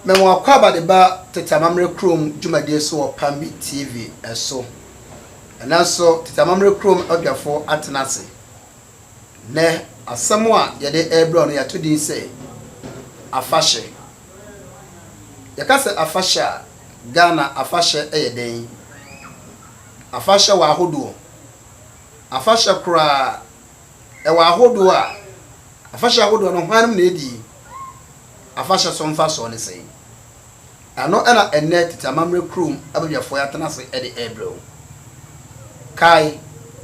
Mema w'akwaaba de ba tete amammerɛ kurom dwumadie so wɔ Pambi TV so. Ɛnɛ nso tete amammerɛ kurom adwafo atena ase Nnɛ, asɛm a yɛde rebrɛ wo no, yɛato din sɛ Afahyɛ. Yɛka sɛ afahyɛ a, Ghana afahyɛ yɛ dɛn? Afahyɛ wɔ ahodoɔ. Afahyɛ koraa, ɛwɔ ahodoɔ a, afahyɛ ahodoɔ no, hwan nom na ɛdi? Afahyɛ so mfasoɔ ne sɛn? Ɛno na ɛnnɛ tete amammerɛ kurom abadwafoɔ yi atena ase de rebrɛ wo. Kae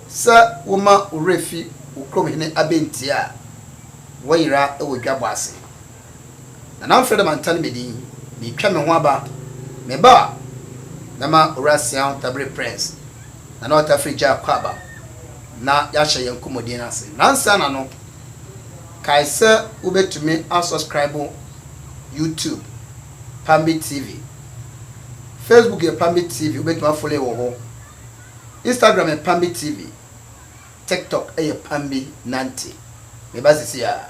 sɛ woma wo werɛ fi wo kurom hene abɛntie a, woayera wɔ dwabɔ ase. Nana mfrɛ de mantane me din, meretwa me ho aba. Me ba a, mɛma Owura Seau Tabere Prince, Nana Otafire Jah kɔ aba na yɛahyɛ yɛn nkɔmmɔdie no ase. Nansa na no, kae sɛ wobɛtumi asɔskraibo YouTube, Pambi TV. Facebook yɛ Pambi TV, wobɛtumi a follow yɛ wɔ hɔ. Instagram yɛ Pambi TV. TikTok yɛ Pambi Nante. Meba sisi a.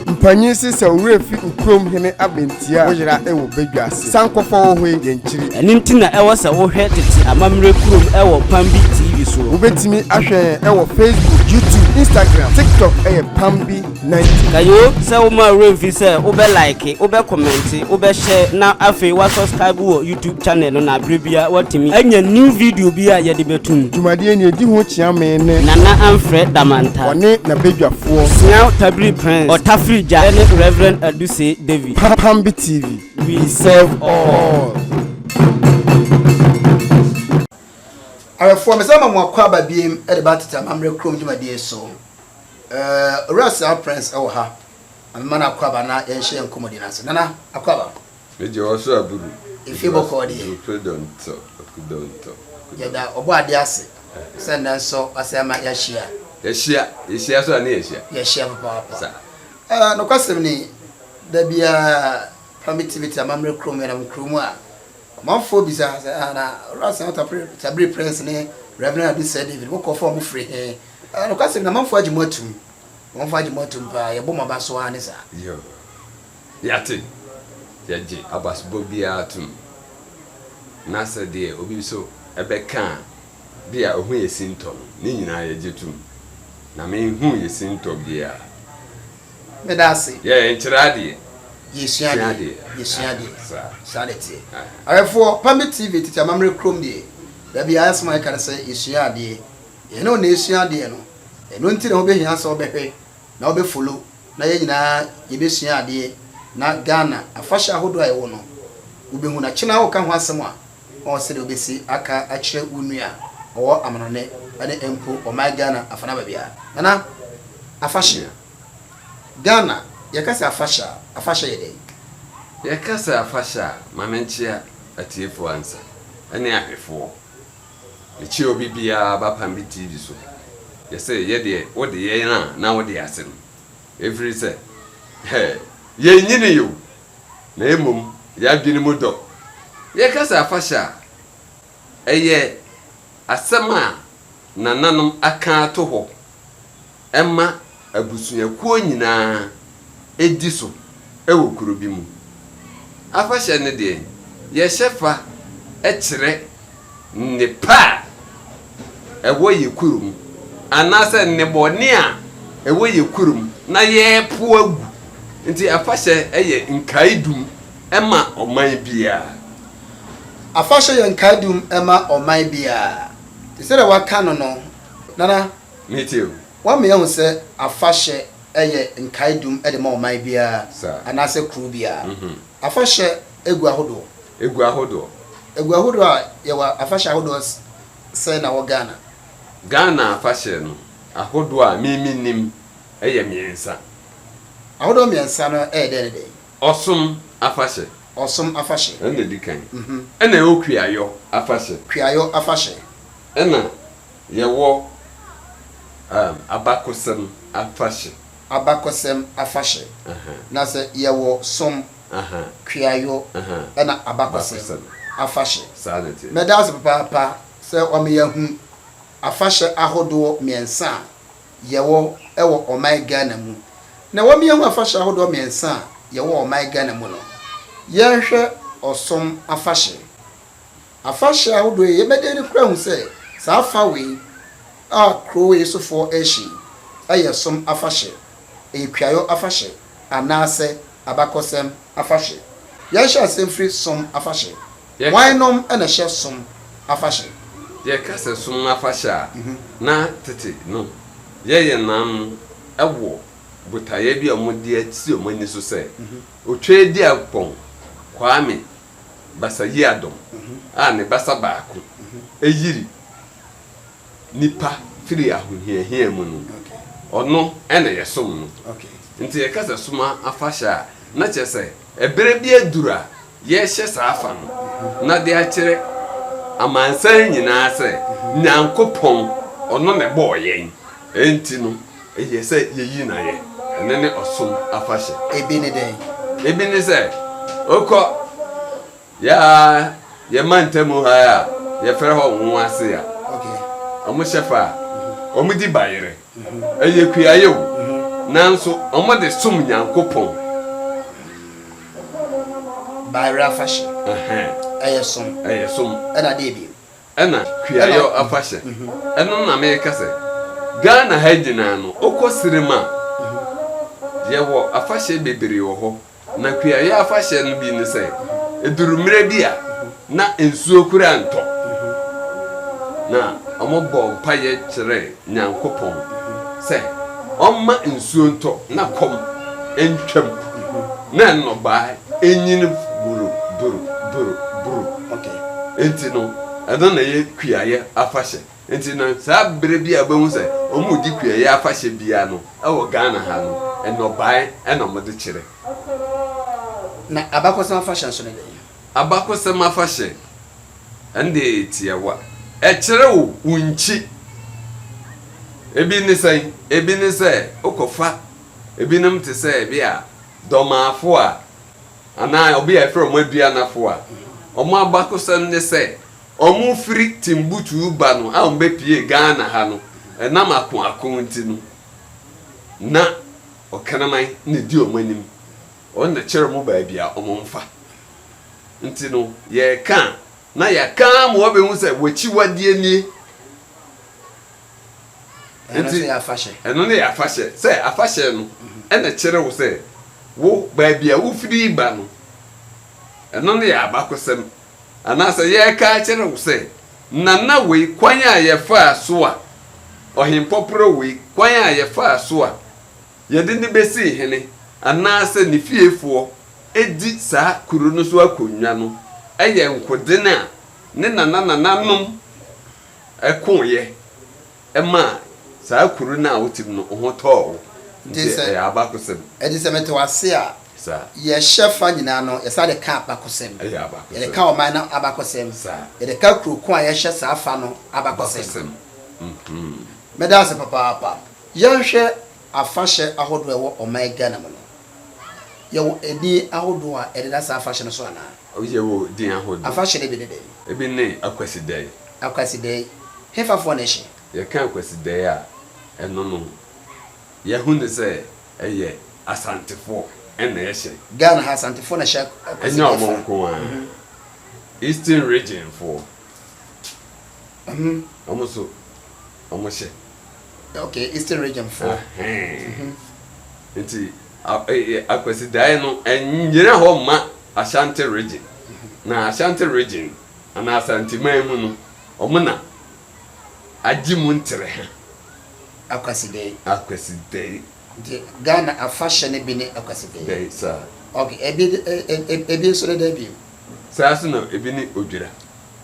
Mpanyin se sɛ wo werɛ fi wo kurom hene abɛn. Tia. Wo yera wɔ badwa ase. San kɔ fɔ wo ho yi yɛn kyiri. Ɛno nti na ɛwɔ sɛ wo hwɛ tete amammerɛ kurom ɛwɔ Pambi TV so. Wo bɛtumi ahwɛ yɛn ɛwɔ Facebook, YouTube, Instagram, TikTok ɛyɛ Pambi 90. Ka yoo sɛ wo mma werɛ mfi sɛ wo bɛ like, wo bɛ comment, wo bɛ share na afei wa subscribe wɔ YouTube channel no na berɛ biara watumi anya new video bi a yɛde bɛto mu. Dwumadie nea ɛdi ho kyea me ne. Nana Amfrɛ Damanta. Wɔne n'abadwafoɔ. Siaw Tabiri Prince, Ɔtafiri Gya ne Rev. Adu. se David. Pambi TV, we serve all. Awɛfoɔ, mesan ama mo akwaaba biem de ba Tete Amammerɛ Kurom dwumadie so. Eh, Owura Sir Prince ɛwɔ ha, ma mema no akwaaba na yɛnhyɛ yɛn nkɔmmɔdie no ase. Nana, akwaaba. Meje wɔ so aburu. Efie bɔkɔɔ deɛ. Dwupre dɔntɔ, aku dɔntɔ, aku dɔntɔ. Yɛda ɔbɔ adeɛ ase sɛ nnɛ nso wasan ama yɛahyia. Yɛahyia, yɛhyia so a ne yɛahyia. Yɛahyia papaapa. Saa. Ah, nokwasɛm ni, da biara paa mitimiti amammerɛ kurom menam kurow mu a, ɔmanfoɔ bisa sɛ, Ah, na Owura Sir Tabiri Prince ne Rev. Ade Sir David, mo nkurɔfoɔ a wɔfiri he? Ah, nokwasɛm ni, amanfoɔ agye mo atum. Amanfoɔ agye mo atum paa, yɛbɔ mo aba so aane saa. Yoo, yɛate. Yɛgye abasobɔ biara atum. Na sɛ deɛ obi nso bɛka a, Bi a ohun yɛ sintɔ no, ne nyinaa yɛgye tom. Na me nhun yɛ sintɔ biaa. Meda ase. Yɛ yɛ nkyerɛ adeɛ. Yɛ sua adeɛ. Yɛ sua adeɛ. Saa ne teɛ. Awɛfoɔ, Pambi TV tete amammerɛ kurom deɛ, da biaa asɛm a yɛka ne sɛ yɛ sua adeɛ. Yɛ ne wo na yɛ sua adeɛ no. Ɛno nti na wo bɛ hia sɛ wo bɛ hwɛ na wo bɛ follow na yɛ nyinaa yɛ bɛ sua adeɛ na Ghana afahyɛ ahodoɔ a yɛ wɔ no wo bɛ hu na kye no ara wo ka ho asɛm a, Ɔn sɛdeɛ wobɛsi aka akyerɛ wo nua ɔwɔ amanɔne ɛne mpo ɔman Ghana afana baabi a. Nana, afahyɛ. Ghana, yɛka sɛ afahyɛ a, afahyɛ yɛ dɛn? Yɛka sɛ afahyɛ a, ma me nkyea atiefoɔ ansa, ɛne ahwɛfoɔ. Mekyea obi biara aba Pambi TV so. Yɛse yɛ deɛ wode yɛn a na wode ase no. Ɛfirisɛ, hɛɛ, yɛnnyinii o, na mmom y'adwene mu dɔ. Yɛka sɛ afahyɛ a, ɛyɛ asɛm a nananom aka ato hɔ ma abusuakuo nyinaa di so wɔ kuro bi mu. Afahyɛ no deɛ, yɛhyɛ fa kyerɛ nnepa a ɛwɔ yɛn kurom anaasɛ nnebɔne a ɛwɔ yɛn kurom na yɛrepo agu. Nti afahyɛ yɛ nkaedum ma ɔman biara. Afahyɛ yɛ nkaedum ma ɔman biara. Te sɛdeɛ wɔaka no no, Nana, woama yɛahu sɛ afahyɛ yɛ nkaedum de ma ɔman biara anaasɛ kuro biara. Afahyɛ. Egu ahodoɔ. Egu ahodoɔ. Egu ahodoɔ a yɛwɔ afahyɛ ahodoɔ sɛn na wɔ Ghana? Ghana afahyɛ no ahodoɔ a me me nim ɛyɛ mmiɛnsa. Ahodoɔ mmiɛnsa no ɛyɛ dɛn ne dɛn? Ɔsom afahyɛ. Ɔsom afahyɛ. Ɛna edi kan. Ɛna ɛwɔ Kuayɔ afahyɛ. Kuayɔ afahyɛ. Ɛna yɛwɔ um, Abakɔsɛm afahyɛ. Abakɔsɛm afahyɛ. Na sɛ yɛwɔ som. kuayɔ na abakɔsɛm afahyɛ. Meda ase papaapa sɛ wɔama yɛahu afahyɛ ahodoɔ mmiɛnsa a yɛwɔ wɔ ɔman Ghana mu. Na wɔama yɛahu afahyɛ ahodoɔ mmiɛnsa a yɛwɔ wɔ ɔman Ghana mu no, yɛnhwɛ ɔsom afahyɛ. Afahyɛ ahodoɔ yi, yɛbɛdɛn de kura hu sɛ saa fa wei a kuro wei sofoɔ rehyɛ yi yɛ som afahyɛ, ɛyɛ kuayɔ afahyɛ anaasɛ Abakɔsɛm Afahyɛ Yɛhyɛ aseɛ mfiri Som Afahyɛ Hwannom na ɛhyɛ Som Afahyɛ? Yɛka sɛ Som Afahyɛ a, na tete no yɛyɛ nam wɔ botaeɛ bi a wɔde asi wɔn ani so sɛ Otwaadiankpɔn Kwame Basa Yiadom a ne basa baako yiri. nipa firi ahohiahia mu no, ɔno na yɛsom no. Nti yɛka sɛ som afahyɛ a, na kyerɛ sɛ ɛberɛ bi aduru a yɛrehyɛ saa afa no na de akyerɛ amansan nyinaa sɛ Nyankopɔn ɔno na ɛbɔɔ yɛn, enti no ɛyɛ sɛ yɛyi no ayɛ. Ɛno ne ɔsom afahyɛ. Ebi ne dɛn? Ebi ne sɛ, wokɔ Yɛ a yɛ mantamu ha a yɛfrɛ hɔ Nwoase a ɔmo hyɛ fa a ɔmo di bayerɛ. Ɛyɛ kuayɛ o, nanso ɔmo de som Nyankopɔn. Bayerɛ afahyɛ. Ɛhɛn. Ɛyɛ som. Ɛyɛ som. Ɛna deɛ bio. Ɛna kuayɛ afahyɛ. Ɛno na meka sɛ Ghana ha nyinaa no, wokɔ Sirem a, yɛwɔ afahyɛ bebree wɔ hɔ. Na kuayɛ afahyɛ no bi ne sɛ, ɛduru mmerɛ bi a na nsuo koraa ntɔ. Na wɔbɔɔ mpaeɛ kyerɛɛ Nyankopɔn sɛ ɔmma nsuo ntɔ na kɔm ntwam na nnɔbaa ɛnyini buru buru buru buru. Enti no, ɛno na ɛyɛ kuayɛ afahyɛ. Nti no, saa berɛ bi a wobɛhu sɛ wɔredi kuayɛ afahyɛ biara no, wɔ Ghana ha no, nnɔbaeɛ na wɔde kyerɛ. Na abakɔsɛm afahyɛ nso ne dɛn? Abakɔsɛm afahyɛ, ɛno deɛ ɛyɛ tiawa. Ɛkyerɛ wo wo nkyi. Ebi ne sɛn? Ebi ne sɛ wokɔfa ebinom te sɛ ebia Dɔmaafoɔ a, anaa obi a yɛfrɛ wɔn Aduanafoɔ a, wɔn abakɔsɛm ne sɛ, Wɔfiri Timbuktu ba no a wɔbɛpuee Ghana ha no, ɛnam ako ako nti no, na Ɔkraman na ɛdi wɔn anim. Wɔn na ɛkyerɛ wɔn baabi a wɔmfa. Nti no, yɛreka a, na yɛaka ara ma wɔabɛhu sɛ w'akyiwadeɛ nie. Ɛno nso yɛ afahyɛ. Ɛno ne yɛ afahyɛ. Sɛ afahyɛ no, ɛna ɛkyerɛ wo sɛ, wo baabi a wofiri ba no, ɛno ne yɛ abakɔsɛm. Anaasɛ yɛreka akyerɛ wo sɛ, Nana wei kwan a yɛfaa so a, Ɔhempɔporɔ wei kwan a yɛfaa so a yɛde no bɛsii hene, anaasɛ ne fiefoɔ di saa kuro no so akonnwa no yɛ nkoden a ne nananananom koeɛ. Ɛmaa saa kuro no a wote mu no ho tɔɔ wo, nti ɛyɛ abakosɛm. Ɛnti sɛ mete wo ase a, yɛhyɛ fa nyinaa no yɛsan de ka abakosɛm. Yɛde ka ɔman no abakosɛm. Yɛde ka kuro ko a yɛhyɛ saa fa no abakosɛm. Meda ase papaapa. Yɛnhwɛ afahyɛ ahodoɔ a ɛwɔ ɔman Ghana mu no, yɛwɔ edin ahodoɔ a ɛdeda saa afahyɛ no so anaa? Woyɛ wo din ahodoɔ. Afahyɛ no bi ne dɛn? Ebi ne Akwasidae. Akwasidae, hefafoɔ na ɛhyɛ? Yɛka Akwasidae a, ɛno no, yɛahu no sɛ ɛyɛ Asantefoɔ na ɛhyɛ. Ghana ha, Asantefoɔ na ɛhyɛ Akwasidae fa. Ɛnyɛ wɔn nko ara. Eastern Regionfoɔ. Uhmm wɔn nso wɔn hyɛ. Ok eastern region foɔ. Ahɛɛn nti Akwasidaeɛ no ɛnnyina hɔ mma Ashanti region na Ashanti region anaa Asanteman mu no wɔn na agye mu ntere ha. Akwasidae. Akwasidae. Nti Ghana afahyɛ no bi ne Akwasidae. Dae saa. Ok ebi nso ne dɛn bio. Saa nso na ebi ne Odwira.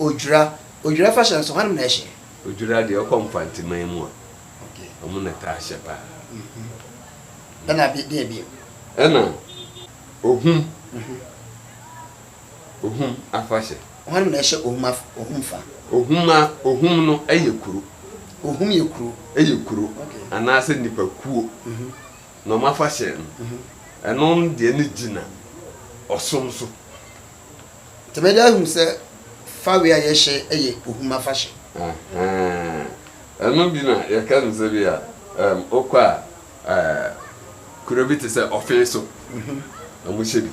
Odwira, Odwira fahyɛ nso hɔnom na ɛhyɛ? Odwira deɛ ɔkɔ Mfanteman mu a, ɔmo na taa hyɛ paa. Ɛna deɛ bio? Ɛna Ohum, Ohum afahyɛ. Hɔnom na ɛhyɛ Ohum afa, Ohum fa? Ohum a, Ohum no ɛyɛ kuro. Ohum yɛ kuro? Ɛyɛ kuro anaasɛ nipa kuo na ɔmo afahyɛ no. Ɛno deɛ no gyina ɔsom so. Tɛmɛde ahu sɛ fawe a yɛhyɛ yɛ ohum afahyɛ. Ahaa. Ɛno bi na yɛka no sɛ bi a wokɔ a kuro bi te sɛ Ɔfeeso, wɔhyɛ bi.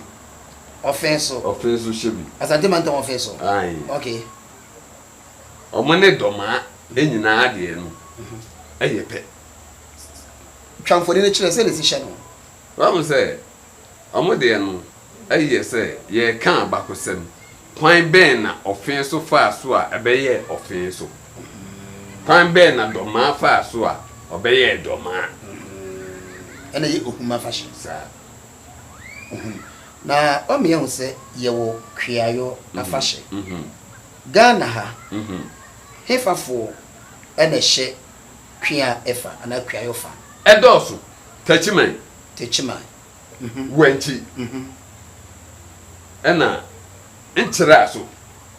Ɔfeeso? Ɔfeeso hyɛ bi. Asante Mantam Ɔfeeso? Ae. Okay. Wɔn ne Dɔmaa ne nyinaa deɛ no yɛ pɛ. Twa mfoni no kyerɛ sɛdeɛ ɛsi hyɛ no. Wahu sɛ Wɔn deɛ no, ɛyi yɛ sɛ yɛreka abakɔsɛm. Kwan bɛn na ɔfe so faa so a ɛbɛyɛɛ ɔfe so? Kwan bɛn na dɔmaa faa so a ɔbɛyɛɛ dɔmaa? Ɛna ɛyɛ Ohum afahyɛ. Saa. Ohum. Na wama yɛahu sɛ yɛwɔ Kweayɔ afahyɛ. Ghana ha, hefafoɔ na ɛhyɛ. Kua ɛfa anaa kuayɔ fa. Ɛdɔɔso, takyiman. Takyiman, mhm. Wankyi, mhm. Ɛna nkyerɛ a so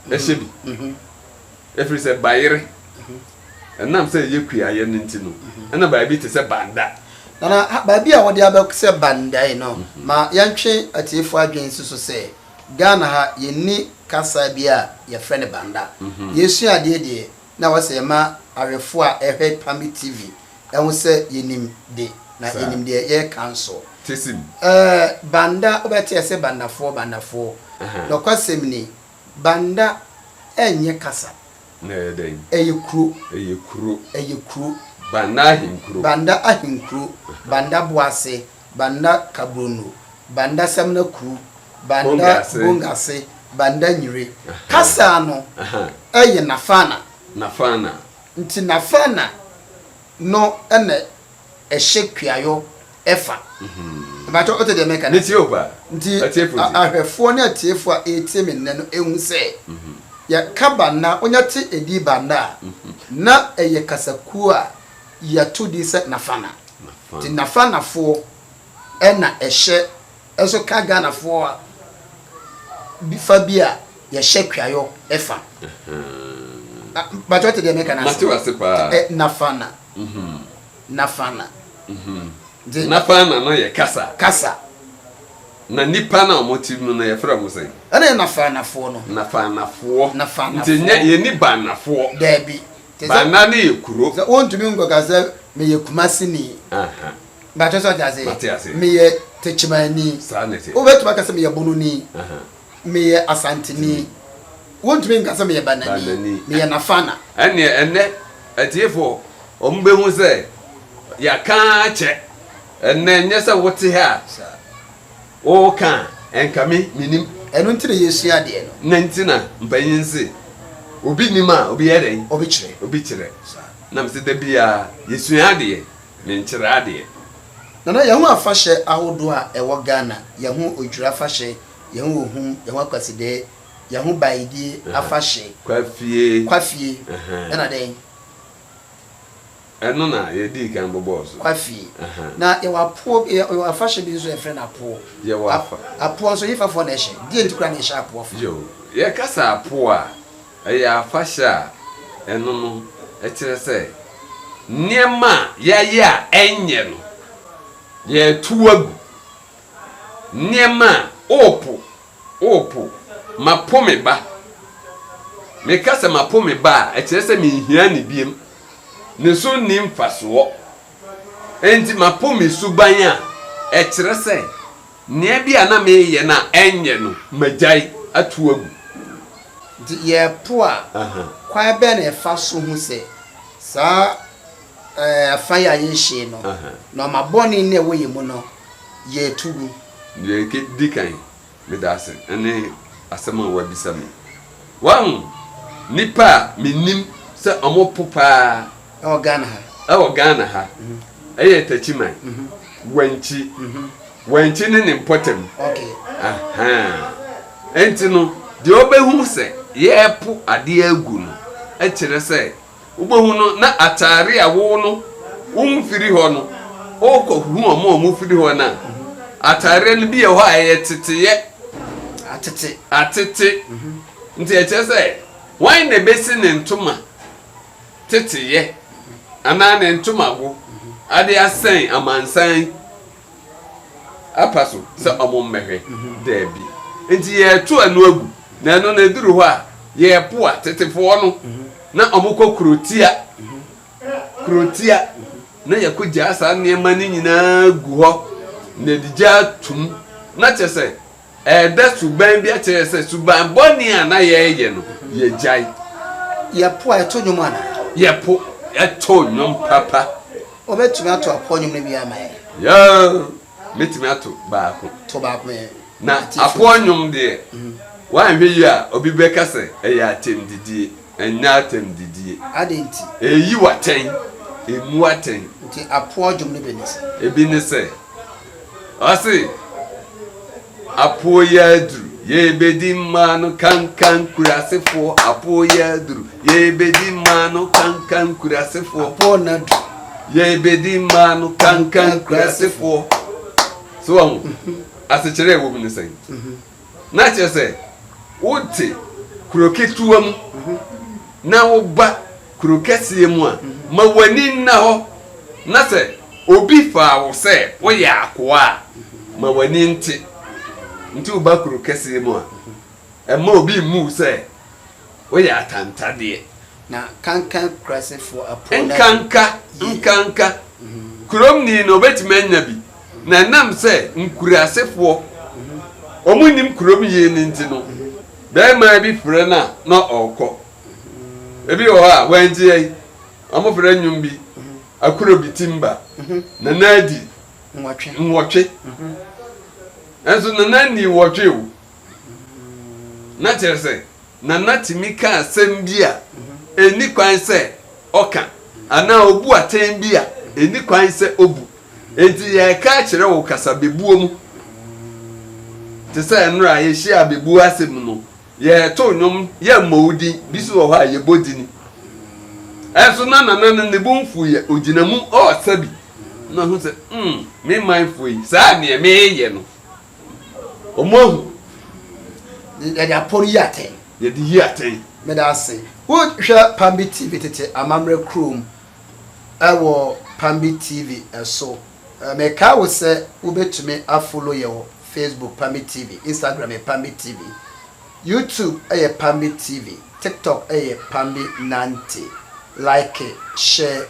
ɛhyɛ bi. Ɛfiri sɛ bayere, ɛnam sɛ ɛyɛ kuayɛ no nti no, ɛna bayɛ bi te sɛ banda. Nana, baabi a wɔde abɛ sɛ banda yi no, ma yɛntwe atiefoɔ adwene nsi so sɛ, Ghana ha, yɛnni kasa bi a yɛfrɛ no banda. Yɛresua adeɛ deɛ, Na wɔsɛ yɛma awɛfoɔ a ɛhwɛ Pambi TV ho sɛ yɛnim de na yɛnim deɛ yɛreka nso. Tesim. Ɛɛ Banda wobɛteɛ sɛ Bandafoɔ Bandafoɔ. Nɔkwasɛm ni, Banda ɛnyɛ kasa. Na ɛyɛ dɛn? Ɛyɛ kuro. Ɛyɛ kuro. Ɛyɛ kuro. Banda ahenkuro. Banda ahenkuro. Banda Boase. Banda Kabrono, Banda Samina Kru, Banda Bongase, Banda Nyire. Kasa no yɛ Nafana. Nafana. Nti Nafana no na ɛhyɛ Kuayɔ fa. Mpakyɛw wote deɛ meka no ase? Metie wo paa. Nti ahwɛfoɔ ne atiefoɔ a ɛretie me nnɛ no ɛhu sɛ, yɛka Banda, wonya te edin Banda a, na ɛyɛ kasakuo a yɛto din sɛ Nafana. Nti Nafanafoɔ na ɛhyɛ ɛso ka Ghanafoɔ a bi fa bi a yɛhyɛ kuayɔ fa. Bàtò ɔte deɛ meka n'ase. Mate wase paa. Ɛ Nafana. Nafana. Nti Nafana no yɛ kasa. Kasa. Na nnipa no a wɔn te mu no yɛfrɛ wɔn sɛn? Ɛna yɛ Nafanafoɔ no. Nafanafoɔ. Nafanafoɔ. Nti nyɛ yɛnni Baanafoɔ. Daabi. Bana no yɛ kuro. Sɛ wontumi nkɔka sɛ meyɛ Kumasini. Mpakyɛ so ɔte ase? Mate ase. Meyɛ Techimanni. Saa na ɛteɛ. Wobɛtumi aka sɛ meyɛ Bononi. Meyɛ Asanteni. Wontumi nka sɛ meyɛ Banani. Banani. Meyɛ Nafana. Ɛnneɛ ɛnnɛ atiefoɔ wɔn bɛhu sɛ yɛaka ara kyɛ. Ɛnnɛ nyɛ sɛ wote ha a. Saa. Wo ka a ɛnka me menim. Ɛno nti na yɛsua adeɛ no. Nɛ nti na mpanyin se obi nim a obi yɛ dɛn? Obi kyerɛ. Obi kyerɛ. Na mese da biaa yɛsua adeɛ, menkyerɛ adeɛ. Nana, yɛho afahyɛ ahodoɔ a ɛwɔ Ghana, yɛho Odwira afahyɛ, yɛho Ohum, yɛho Akwasidɛɛ, yɛho Baidie afahyɛ, Kwafie, Kwafie, ɛna dɛn? Ɛno na yɛdii kan bobɔɔ so. Kwafie. Na yɛwɔ apoɔ bi, yɛwɔ afahyɛ bi nso a yɛfrɛ no apoɔ. Yɛwɔ afa. Apoɔ nso Yifafoɔ na ɛhyɛ. Deɛ nti koraa na yɛhyɛ apoɔ fa. Yoo. Yɛka sɛ apoɔ a, ɛyɛ afahyɛ a ɛno no kyerɛ sɛ nneɛma a yɛayɛ a ɛnyɛ no, yɛretow agu. Nneɛma a worepo O po, mapo me ba. Meka sɛ mapo me ba a, ɛkyerɛ sɛ minhia no bio. Ne so nni mfasoɔ. Enti mapo me suban a, ɛkyerɛ sɛ nea bi a na mereyɛ no a ɛnyɛ no, magyae atow agu. Nti yɛpo a, kwan bɛn na yɛfa so hu sɛ saa afã yi a yɛnhyee no, na ɔma bɔne nni a ɛwɔ yɛn mu no, yɛretu gu. Nea edi kan, meda ase ne asɛm a wɔabisa me. Wahu nnipa a minim sɛ wɔpo paa. Ɛwɔ Ghana ha. Ɛwɔ Ghana ha. Ɛyɛ Takyiman, Wankyi. Wankyi ne ne mpɔtam. Okay. Ahaa. Enti no, deɛ ɔbɛhu sɛ yɛrepo adeɛ agu no kyerɛ sɛ Wobɛhu no na ataare a wo no womfiri hɔ no, wokɔ hu wɔn a wɔfiri hɔ no a, ataareɛ no bi wɔ hɔ a ɛyɛ teteeɛ. Atete. Atete. Nti ɛkyerɛ sɛ wɔn na ɛbɛsi ne ntoma teteeɛ anaa ne ntomago ade asɛn amansan Apa so sɛ wɔmmɛhwɛ? Dabi. Enti yɛreto ɛno agu, na ɛno no ɛduru hɔ a, yɛreboa tetefoɔ no na wɔkɔ kurotia, kurotia, na yɛkɔgyaa saa nneɛma no nyinaa gu hɔ, na yɛde gyaa tom, na kyerɛ sɛ, Ɛda suban bi akyerɛ sɛ suban bɔne a na yɛyɛ no, yɛagyae. Yɛpo a, ɛto nnwom anaa? Yɛpo, ɛto nnwom papa. Wobɛtumi ato apoɔ nnwom no biara ma yɛn? Yeah, mɛtumi ato baako. To baako ma yɛn. Na apoɔ nnwom deɛ, woanhwɛ yie a, obi bɛka sɛ ɛyɛ atɛmdidie. Ɛnyɛ atɛmdidie. Adɛn nti? Ɛyi wo atɛn. Ɛmmu atɛn. Nti apoɔ dwom no bi ne sɛ? Ɛbi ne sɛ. Ɔse, Apoe aduru, yɛrebɛdi mmaa no kankan kurasefoɔ Apoe aduru, yɛrebɛdi mmaa no kankan kurasefoɔ Apoe no aduru, yɛrebɛdi mmaa no kankan kurasefoɔ So wɔn, asekyerɛ a ɛwɔ mu ne sɛn? Na kyerɛ sɛ, wote kuro ketewa mu na woba kuro kɛseɛ mu a, ma w'ani nna hɔ, na sɛ obi faa wo sɛ woyɛ akoa a, ma w'ani nte. Nti woba kuro kɛseɛ mu a, mma obi mmu wo sɛ Woyɛ atantadeɛ. Na kankan kurasefoɔ apoo no adi. Nkanka, nkanka. Kuromni no, ɔbɛtumi anya bi. Na ɛnam sɛ nkurasefoɔ, wɔnnim kurom yie no nti no, barima bi frɛ no a, na ɔrekɔ. Ebi wɔ hɔ a, wɔanti yɛn. Wɔfrɛ nnwom bi, Akuro bi timba, Nana adi. Nnwɔtwe. Nnwɔtwe. Nanso Nana nnii nnwɔtwe o. Na kyerɛ sɛ, Nana tumi ka asɛm bi a enni kwan sɛ ɔka anaa obu atɛn bi a enni kwan sɛ obu. Enti yɛreka akyerɛ wo kasabebuo mu. Te sɛ nnora a yɛhyia abebuo ase mu no, yɛreto nnwom, yɛmmɔ wo din. Bi nso wɔ hɔ a, yɛbɔ dini. Ɛnso na Nana no ne bo mfuiɛ, ɔgyina mu ɔresa bi. Na ɔhu sɛ, hmm, me manfoɔ yi, saa deɛ mereyɛ no, Wɔn ahu. Yɛde apɔ reyi atɛn. Yɛde yi atɛn. Meda ase. Wohwɛ Pambi TV tete amammerɛ kurom wɔ Pambi TV so. Mekae wo sɛ wobɛtumi afolo yɛ wɔ Facebook Pambi TV, Instagram yɛ Pambi TV, YouTube yɛ Pambi TV, TikTok yɛ Pambi Nante. Like, share.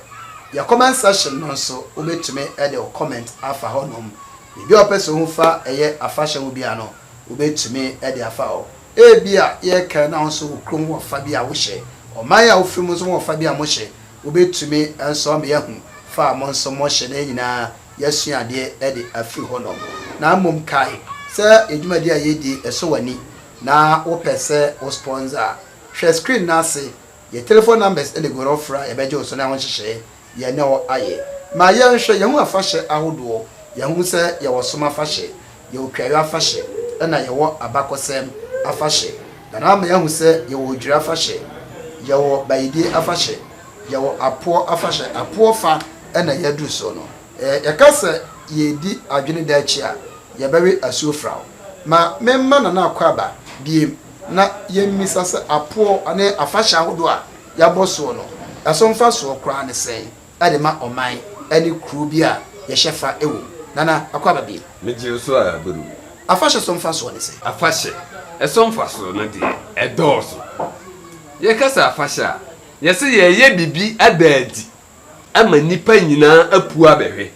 Yɛ comment section no nso wobɛtumi de wo comment afa hɔnom. Biribi a ɔpɛ sɛ ohu fa ɛyɛ afahyɛ ho biara no, wobetumi de afa hɔ. Ebia yɛrekae na wo nso wo kurom ho ɔfa bi a wohyɛ, ɔman a wufiri mu nso ho ɔfa bi a mohyɛ. Wobetumi nso ama yɛahu fa a mo nso mohyɛ na yɛn nyinaa yɛasua adeɛ de afiri hɔnom. Na mmom kae sɛ yɛn dwumadi a yɛredi yi sɔ w'ani na wopɛ sɛ wo sponsor a, hwɛ screen no ase. Yɛn telefon numbers na egu hɔ no, frɛ a yɛbɛgye wo so na yɛaho nhyehyɛe. yɛne wo ayɛ. Ma yɛnhwɛ yɛn ho afahyɛ ahodoɔ. Yɛahu sɛ yɛwɔ som afahyɛ, yɛwɔ kuayɔ afahyɛ, ɛna yɛwɔ abakɔsɛm afahyɛ. Na na ama yɛahu sɛ yɛwɔ odwira afahyɛ, yɛwɔ bayedie afahyɛ, yɛwɔ apoɔ afahyɛ. Apoɔ fa na yɛaduru so no. Yɛka sɛ yɛredi adwene daakyi a, yɛbɛwe asuo fraw. Ma memma Nana Akwaaba biem na yɛmmisa sɛ apoɔ ne afahyɛ ahodoɔ a. yɛabɔ soɔ no, ɛso mfasoɔ koraa ne sɛn de ma ɔman ne kuro bi a yɛhyɛ fa wɔ mu? Nana Akua Babie. Megye wo so ara bro. Afahyɛ so mfasoɔ ne sɛn? Afahyɛ so mfasoɔ no deɛ, ɛdɔɔso. Yɛka sɛ afahyɛ a, yɛse yɛreyɛ biribi ada adi ama nnipa nyinaa apue abɛhwɛ.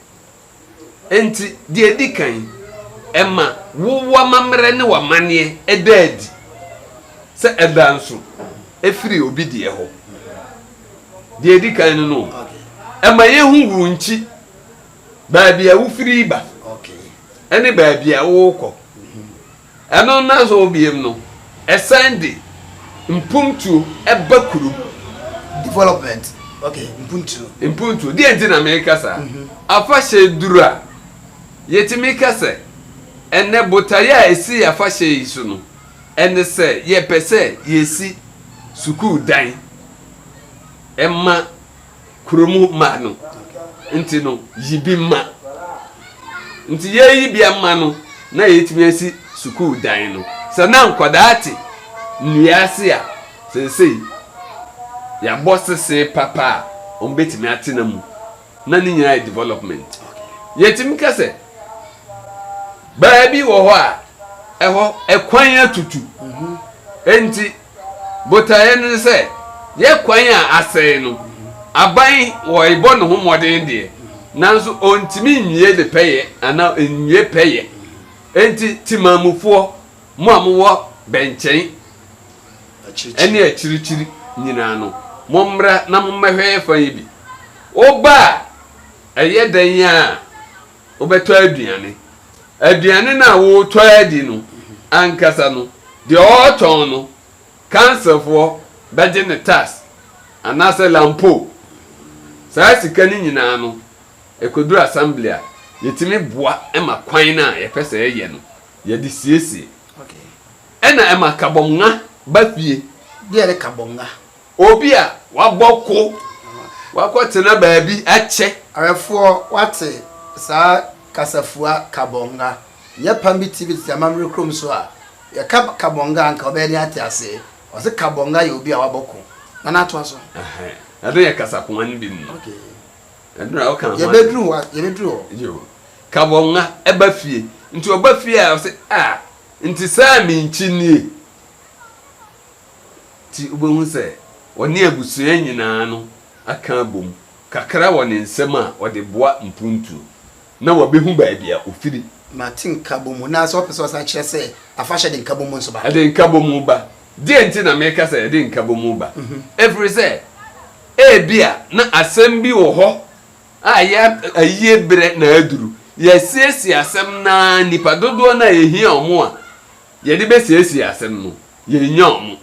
Enti, deɛ ɛdi kan, ɛma wo w'amammerɛ ne w'amanneɛ da adi sɛ ɛda nso firi obi deɛ hɔ. Deɛ ɛdi kan no no, ɛma yɛhu wo nkyi, baabi a wofiri ba, ne baabi a worekɔ. Ɛno nnansa hɔ biom no, ɛsan de mpuntuo ba kurom. Development, ok, mpuntuo. Mpuntuo, deɛ nti na meka saa, afahyɛ duru a, yɛtumi ka sɛ, ɛnnɛ botaeɛ a ɛsi afahyɛ yi so no, ɛne sɛ yɛpɛ sɛ yɛsi sukuu dan ma. kuro mu mma no nti no, yi bi ma. Nti yɛreyi bi ama no na yɛatumi asi sukuu dan no. Sɛ na nkwadaa te nnua ase a, seesei yɛabɔ sese papa a wɔbɛtumi atena mu, na ne nyinaa yɛ development. Yɛtumi ka sɛ baabi wɔ hɔ a ɛhɔ kwan atutu, nti Botaeɛ no ne sɛ yɛ kwan a asɛe no, aban ɔrebɔ ne ho mmɔden deɛ, nanso ɔntumi nwie ne pɛyɛ anaa ɔnwie pɛyɛ. Enti Temanmufoɔ, mo a mowɔ bɛnkyɛn ne akyirikyiri nyinaa no, mommra na mommɛhwɛ yɛ fa yi bi. Woba a, ɛyɛ dɛn ara a, wobɛtɔ aduane aduane no a woretɔ adi no ankasa no deɛ ɔretɔn no kanselfoɔ bɛgye ne tax anaasɛ lampo saa sika no nyinaa no ɛkɔduru assembly a yɛtumi boa ma kwan no a yɛpɛ sɛ yɛyɛ no yɛde siesie ɛna ɛma kabɔnga ba fie deɛ ne kabɔnga Obi a wabɔ ko, wakɔtena baabi akyɛ. Awerɛfoɔ, woate saa kasafua Kabonga? Nyɛ pam bi TV tete amammerɛ kurom so a, yɛka Kabonga a, anka wobɛyɛ den ate aseɛ. Wɔse Kabonga yɛ obi a wabɔ ko. Nana, toa so. Ɛhɛn, ɛno yɛ kasakoa no bi mu. Okay. Ɛno na woka ho asɛm. Yɛbɛduru hɔ, yɛbɛduru hɔ. Yoo. Kabonga ɛba fie, nti ɔba fie a, ɔse, ah, nti saa a menkyi nie. nti wubehu sɛ ɔne abusua nyinaa no aka abom kakra wɔ ne nsam a ɔde boa mpontuo, na wabehu baabi a ofiri. Ma te nkabom mu, na sɛ ɔpɛ sɛ ɔsan kyerɛ sɛ afahyɛ de nkabom mu nso ba. Ɛde nkabom mu ba. Deɛn nti na meka sɛ ɛde nkabom mu ba? Ɛfiri sɛ, ebia na asɛm bi wɔ hɔ a yɛ ayie berɛ na aduru. Yɛasiesie asɛm no ara, nnipa dodoɔ no a ɛhia wɔn a yɛde bɛsiesie asɛm no, Yɛrennya wɔn.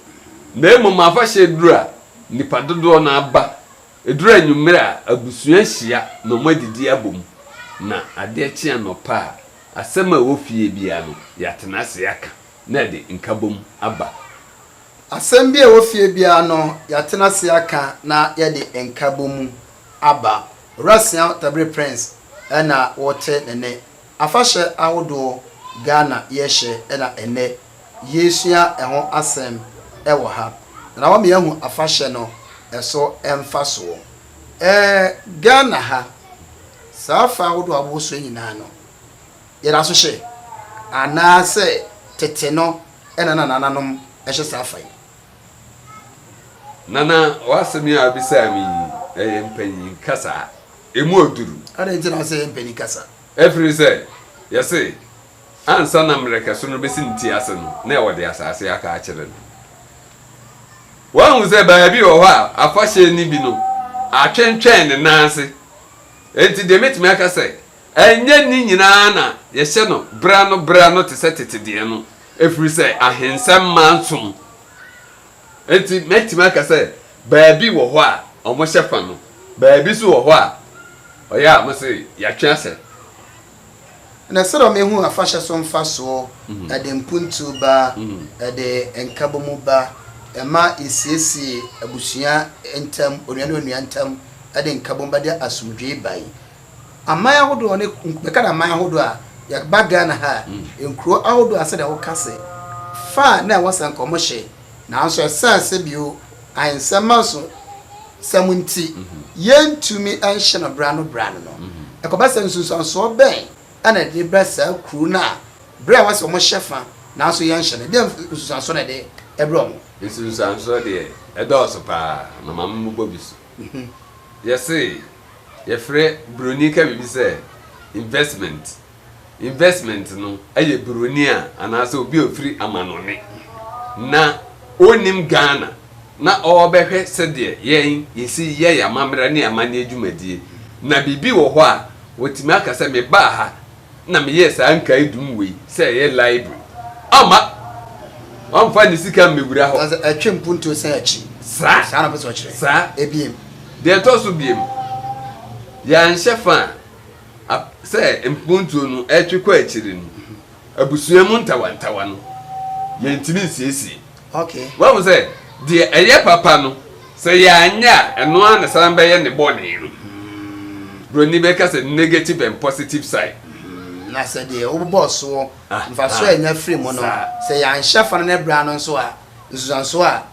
Na mmom afahyɛ duru a nnipa dodoɔ no ara ba, ɛduru anwummere a abusua hyia na wɔadidi abom, na adeɛ kye anɔpa a, asɛm a ɛwɔ fie biara no, yɛatena ase aka na ɛde nkabom aba. Asɛm biara a ɛwɔ fie biara no, yɛatena ase aka na yɛde nkabom aba. Owurasia Tabiri Prince na wote ne nne. Afahyɛ ahodoɔ Ghana yɛhyɛ na ɛnnɛ yesua ho asɛm wɔ ha, na na wama yɛahu afahyɛ no so mfasoɔ. Ɛɛ Ghana ha, saa afa ahodoɔ a wɔwɔ so yi nyinaa no, yɛda so hyɛ? Anaasɛ tete no na na nananom hyɛ saa afa yi? Nana, w'asɛm yi a wobisaa me yi, ɛyɛ mpanyin kasa. Emu aduru. Adɛn nti na wose ɛyɛ mpanyin kasa? Ɛfiri sɛ, yɛse, Ansa na mmerɛkɛso no besi ne ti ase no, na wɔde asase aka akyerɛ no. Wahu sɛ baabi wɔ hɔ a afahyɛ nni bi no, atwentwɛn ne nan ase. Enti deɛ mɛtumi aka sɛ, ɛnyɛ ne nyinaa na yɛhyɛ no berɛano berɛano te sɛ tete deɛ no, ɛfiri sɛ ahensɛmma nsom. Enti mɛtumi aka sɛ, baabi wɔ hɔ a wɔhyɛ fa no, baabi nso wɔ hɔ a ɔyɛ a wɔse yɛatwe ahyɛ. Na sɛdeɛ wɔahu afahyɛ so mfasoɔ, ɛde mpuntuo ba, ɛde nkabɔmu ba, ɛma yɛsiesie abusua ntam, onua ne onua ntam, ɛde nkabom ba, ɛde asomdwoeɛ ba yi. Aman ahodoɔ ne, bɛka no aman ahodoɔ a, yɛba Ghana ha a, nkuro ahodoɔ a sɛdeɛ woka sɛ, fa a na ɛwɔ sɛ nka wɔhyɛ Nanso esiane sɛdeɛ ahensɛmma so nsɛm nti yɛntumi nhyɛ no berɛ ano berɛ ano no, ɛkɔba sɛ nsunsuansoɔ bɛn na ɛde ba saa kuro no a berɛ a wɔsɛ wɔhyɛ fa nanso yɛnhyɛ no? Deɛn nsunsuansoɔ na ɛde brɛ wɔn? Nsunsuansoɔ deɛ ɛdɔɔso pa ara, na maame mmobɔ bi so. Yɛse yɛfrɛ broni ka biribi sɛ investment. investment no yɛ buroni a anaasɛ obi a ofiri amanɔne na onnim Ghana na ɔrebɛhwɛ sɛdeɛ yɛn yɛsi yɛ yɛn amammerɛ ne amanneɛ dwumadie na biribi wɔ hɔ a watumi aka sɛ mebaa ha na meyɛɛ saa nkaedum wei sɛ ɛyɛ library ama wamfa ne sika mmɛwura hɔ. Sɛ ɛtwe mpuntuo sɛ akyi. Saa. Saa na pɛ sɛ ɔkyerɛ. Saa. Ebiem. Deɛ ɛtɔ so biem, yɛanhyɛ fa a. A Sɛ mpontuo no retwe kɔ akyire no, abusua mu ntawantawa no, yɛntumi nsiesie. Okay. Wahu sɛ, deɛ ɛyɛ papa no, sɛ yɛanyɛ a, ɛno ara na ɛsan bɛyɛ ne bɔne no. Buroni bɛka sɛ negative and positive side. Mm-hmm. Na sɛ deɛ wobobɔ soɔ, Ah, mfasoɔ a ah. yɛnya firi mu no, Saa. sɛ yɛanhyɛ fa no na ɛbrɛ ano nso a, nsunsuansoɔ a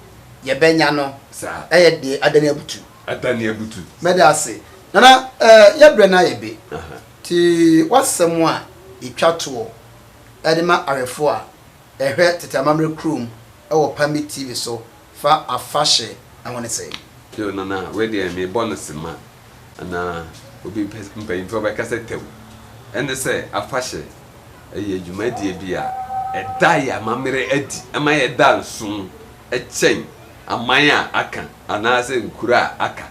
yɛbɛnya no Saa. yɛ deɛ adane abutu. Ada ne abutu. Mɛda ase. Nana eh yɛ brɛ na yɛ be te w'asɛm a yɛtwa toɔ de ma awɛfoɔ a ɛhwɛ Tete Amammerɛ kurom wɔ Pambi TV so fa afahye ho ne sɛn? Yoo Nana wei deɛ me bɔ no sema anaa obi pɛ mpanyinfoɔ bɛ kasa tɛw ɛne sɛ afahye ɛyɛ dwumadie bi a ɛda yɛ amammerɛ adi ɛma yɛ da nso ɛkyɛn aman a aka anaasɛ nkuro a aka.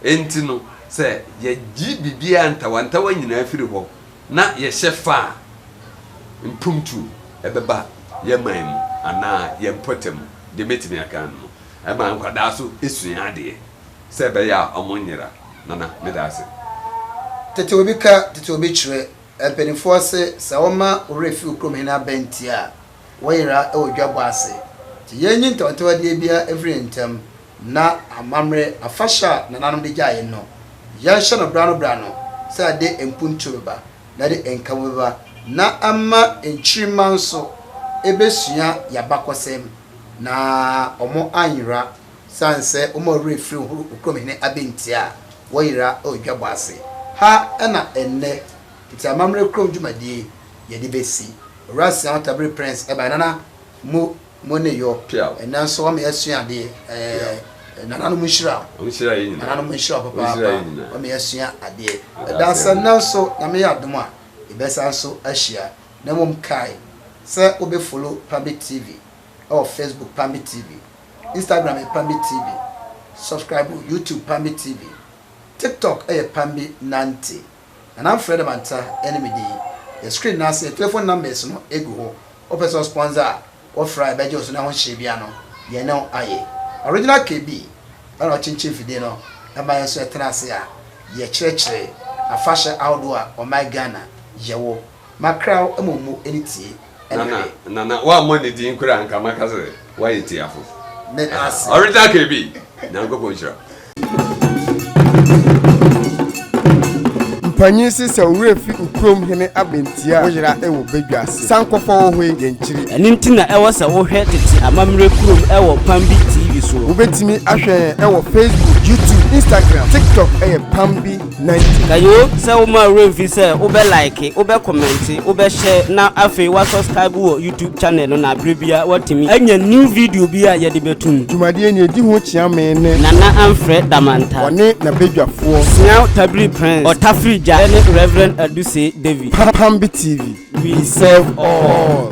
Enti no, sɛ yɛgye biribiara ntawantawa nyinaa firi hɔ na yɛhyɛ fa a, mpuntuo bɛba yɛn man mu anaa yɛn mpɔtam, deɛ mɛtumi aka ano no. Ɛma nkwadaa nso sua adeɛ sɛ ɛbɛyɛ a wɔnnyera. Nana, meda ase. Tete obi ka, tete obi kyerɛ. Mpanimfoɔ se, sɛ woma wo werɛ fi wo kurom hene abɛnti a, wɔyera wɔ dwabɔ ase. Nti yɛnnye ntawntawadiɛ biara mfiri yɛn ntam, na amammerɛ afahyɛ a nananom de gyaa yɛn no, yɛnhyɛ no berɛ ano berɛ ano, sɛ ɛde mpuntuo bɛba, na ɛde nkamu bɛba, na ɛma nkyirimma nso bɛsua yɛn abakɔsɛm, na wɔanyera, sane sɛ wɔn a wɔwerɛ firi horo okurom hene abɛntia a, wɔyera wɔ dwabɔ ase. Ha na ɛnnɛ Tete amammerɛ kurom dwumadie yɛ de bɛ si. Owura nsia ho tabiri prɛns ɛbaɛ nana mo mo ne yɔ ɛnɛ nso wama yɛ sua adeɛ ɛɛ nana nom nhyira nana nom nhyira papaapa wama yɛ sua adeɛ ɛda sɛ nnɛ nso nyame yɛ adom a yɛ bɛ san so ahyia na mmom kae sɛ wo bɛ follow pambi tv ɛwɔ facebook pambi tv instagram yɛ pambi tv subscribe youtube pambi tv tiktok ɛyɛ pambi nante. Nana mfrɛ dɛm antsɛ a ɛne me din yɛ screen no ase telephone numbers no egu hɔ wopɛ sɛ ɔsponsor a wɔfrɛ a yɛbɛgye wo so na ɛho nhyɛ biara no yɛne wo ayɛ Original KB na ɔkyenkyen mfidie no ɛma yɛn nso yɛtena ase a yɛkyerɛkyerɛ afahyɛ ahodoɔ a ɔman Ghana yɛwɔ Ma kra wo mmom mu ani tie ne hwɛ. Nana nana woammɔ ne din koraa anka maka sɛ woayɛ tiafo. Meda ase. Original KB, Nyankopɔn nhyira wo. Mpanyin se sɛ owura fi ukurom hene aba nti a, wo yera wɔ badwa ase. San kɔfa wo hoe yɛ nkyiri. Ɛno nti na ɛwɔ sɛ wohwɛ tete amammerɛ kurom wɔ Pam Bi TV soɔ. Wobɛtumi ahwɛ yɛn wɔ Facebook, YouTube, Instagram, TikTok yɛ Pam Bi. Na yoo sɛ wo ma wura mfi sɛ wo bɛ like wo bɛ comment wo bɛ share na afei wa subscribe wɔ YouTube channel no na bere bia wa tumi anya new video bi a yɛde bɛ tum. Dwumadie ni edi ho kyea me ne. Nana Amfrɛ Damanta. Wɔne na badwafoɔ. Siaw Tabiri Prince, Ɔtafiri Gya ne Reverend Adusei David. Pambi TV, we serve all.